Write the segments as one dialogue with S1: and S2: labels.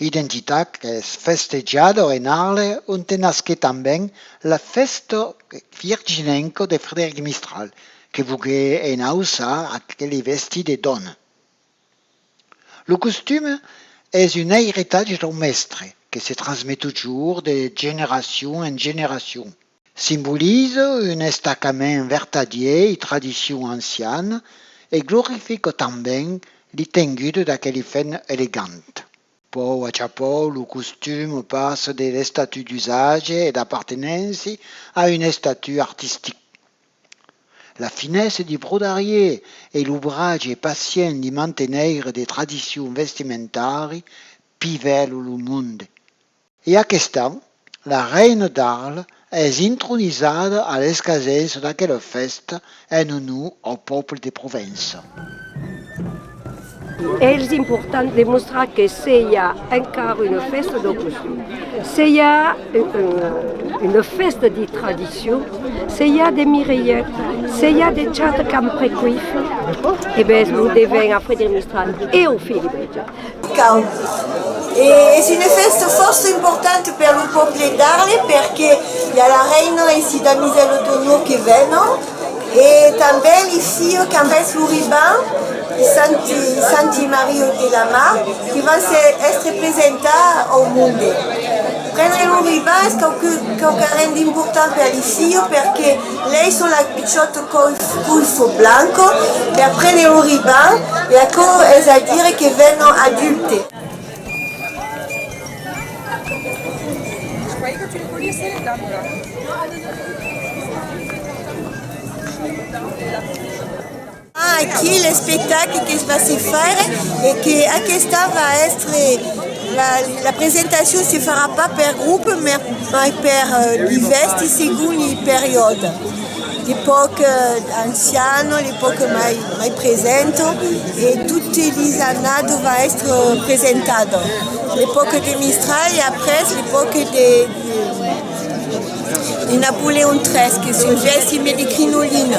S1: Identitat qu'es festejada en Arles onte nasquèt tanben la fèsta virginenca de Frederic Mistral que vogué enauçar aqueli vestí de dòna. Lo costume es un airetatge dau mèstre que se transmet totjorr de generacion en generacion. Simbolize un estacament vertadier i tradicion anciana e glorifica tanben li tengut d'aqueli fèn elegant. Pòu a chapòu lo costum passa de l'estatut d'usatge e d'apartenenci a un estatut artistic. La finesa di brodarier e l'obratge pacient di manteneire de tradicion vestimentari pivèl lo monde. E aquesta, la reina d'Arles, es intronisada a l'escasens d'aquela fèsta en onor au pòble de Provença.
S2: Es important de mostrar que se i a encara una fèsta dau costum, se i a una fèsta de tradicion, se i a de Mireilhet, se i a de Chata qu'an precuit e bèth lo devèn a Frederic Mistral e au Filibertge. Cau. E
S3: es una fèsta fòrça importanta per lo pòble d'Arles perque i a la reina e si damisèlas d'onor que venon e tanben li filhs qu'an vèst lo riban de santi santi Mario de la Mar que van se èstre presentar au monde. Prendre lo riban es quauque quauquarren d'important per li filhs perque Lei son la pichòt coifo blanco per prene un riban e aquò es a dire que vènon adulte. Aquí l'espectacle que se va se faire e que aquesta va èstre la presentacion se farà pas per grop mai per divèsti segon li periòde de pauc ancian de pauc mai present e tote li annada va èstre presentat de pauc de mistral e après de pauc de Napoleon iii que se vèsti mai de crinolina.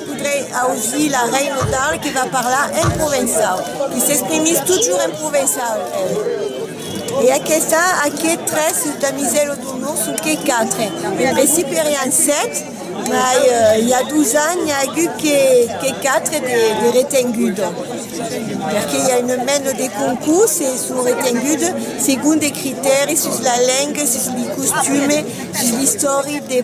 S3: Podrei auzir la rei Notale que va parlar en provençau, que s'exprimís totjorn en provençau, el. E aquesta, aqui, tres damisèl o d'onor, sonque quatre. En principi èrian sèt, mai i a dus ans n'i a agut que quatre de retengudes, perque i a un mèn de concurs e son retengudes segon de critèris sus la lenga, sus li costumes, sus l'istòric de.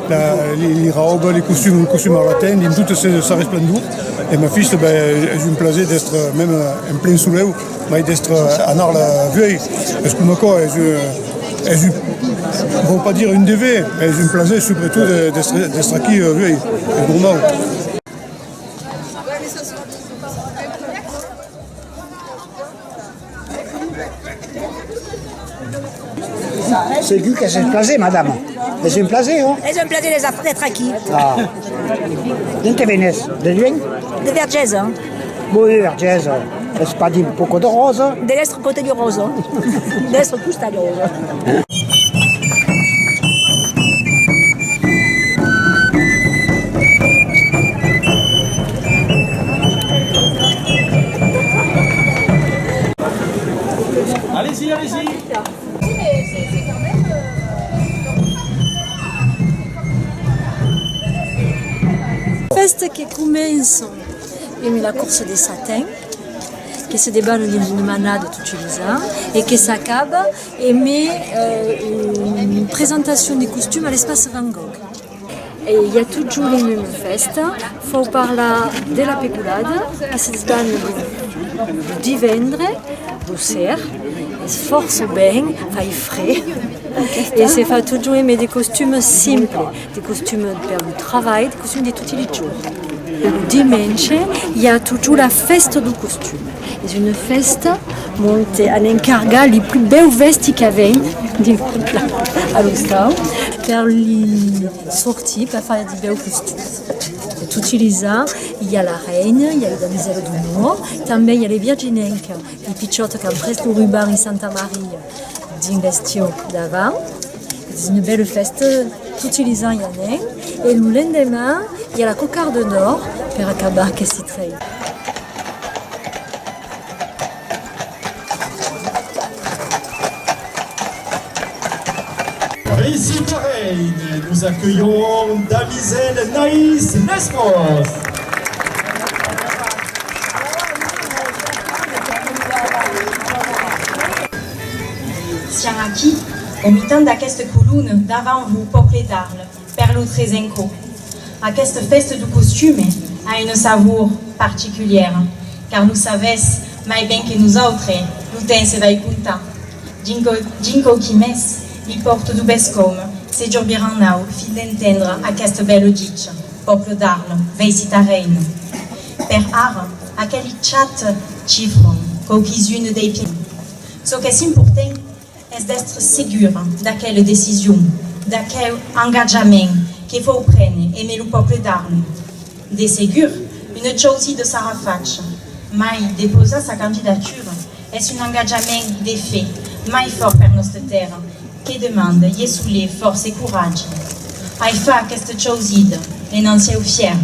S4: Li rauba li costum, lo costum arlaten dins tota sa resplendor e ma fista ben es un plaser d'estre mèm en plen soleu mai d'estre anar la veir es coma quò es es un vau pas dire un dever mai es un plaser subretot d'estre d'estre aquí la veir es normau.
S5: Segur qu'es un plaser, madama. Es un plaser, ò? Es un plaser d'èsser, d'èstre
S6: aquí. Ah.
S5: D'ont te venes? De luenh? De Vergesa.
S6: Bon, de Vergesa.
S5: Es pas dimb poco de Rosa? De l'èstre cotè de
S6: Rosa. De l'èstre costà de Rosa.
S7: Fèsta que començan emb la corsa de satin que se debanam dins una manada tot utilizant e que s'acaba E me un presentacion de costum a l'espace Van Gogh. E i a totjorn un un fèsta, fau parlar de la pecolada a sits d'an lo divendre lo ser, es fòrça ben, fai fre e se fa totjorn e me de costum simple. De costumi per lo travalh, de costumi de toti li jorns. E lo dimenge i a totjorn la fèsta do costumi. Es una fèsta ont an encargat li plus bèus vèsti qu'avèm dins Privla a l'ostau per li sortir per far de bèus costums. E toti lis ans i a la reina, i a lo damisèla d'onor, tanben i a li virginenca, li pichòtas qu'an pres lo ruban in Santa Maria dins l'estiu davant. Es una bèla fèsta, toti les ans i anèn e lo lendeman i a la cocarda d'òr per acabar aqueste trèi.
S8: Aicí parelh, nos aculhon damisèl Naïs Lesmos.
S9: Au mitan d'aqueste colon, davant vos, pòple d'Arles, per lo Tresenco, aquesta fèsta du costume a une savour particulièra, car lo savètz mai ben que nosautres, lo temps se vai comptar. Dinc quauqui mes, li pòrto du bescòm, se jorbiran au fin d'entendre aqueste bèl ditge, pòple d'Arles, vèissi ta reina. Per ara, aqueli chat chifron quauquis-unes dei piècons. Çò qu'es important, es d'èstre segura d'aquela decision, d'aqueu engatjament que vòu prene emé lo pòble d'Arn. De segur, una chausida sarà facha, mai depausar sa candidatura es un engatjament de fe mai fòrt per nòsta tèrra que demanda ieu solé fòrça coratge. Ai far aquesta chausida en un sieu fièrm.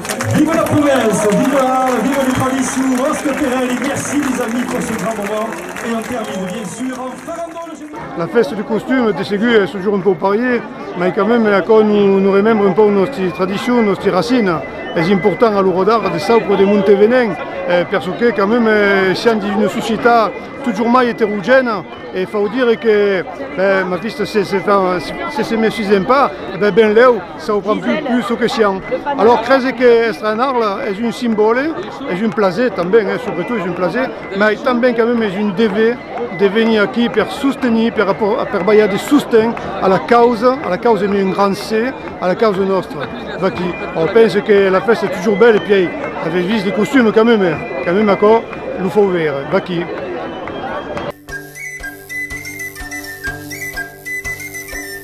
S8: Viva la province, viva, viva le tradicion
S4: Oscar Perel e merci les amis pour ce grand moment e on termine bien sur en farandole generale. La fèsta de costum de segur es totjorn un pauc parier, mai quand même aquò nos remembre un pauc nòsti tradicion, nòsti racina. Es important a l'ora d'ara de saupre de monte venèn per çò que quand même siam dins una societat totjorn mai eterogèna e fau dire que ben aquista se se mesisèm pas ben lèu Çò pren plus plus çò que siam. Alòr crese que èstre en Arles es un simbòle, es un plaser tanben, eh, subretot es un plaser, mai tanben quand même es un dever de venir aquí per sostenir, per aportar, per balhar de sosten a la causa, a la causa ne un grand C, a la causa nòstra. Vaquí. Or pense que la fèsta es toujours belle e pièi avètz vist de costum quand même, quand même aquò lo fau veire. Vaquí.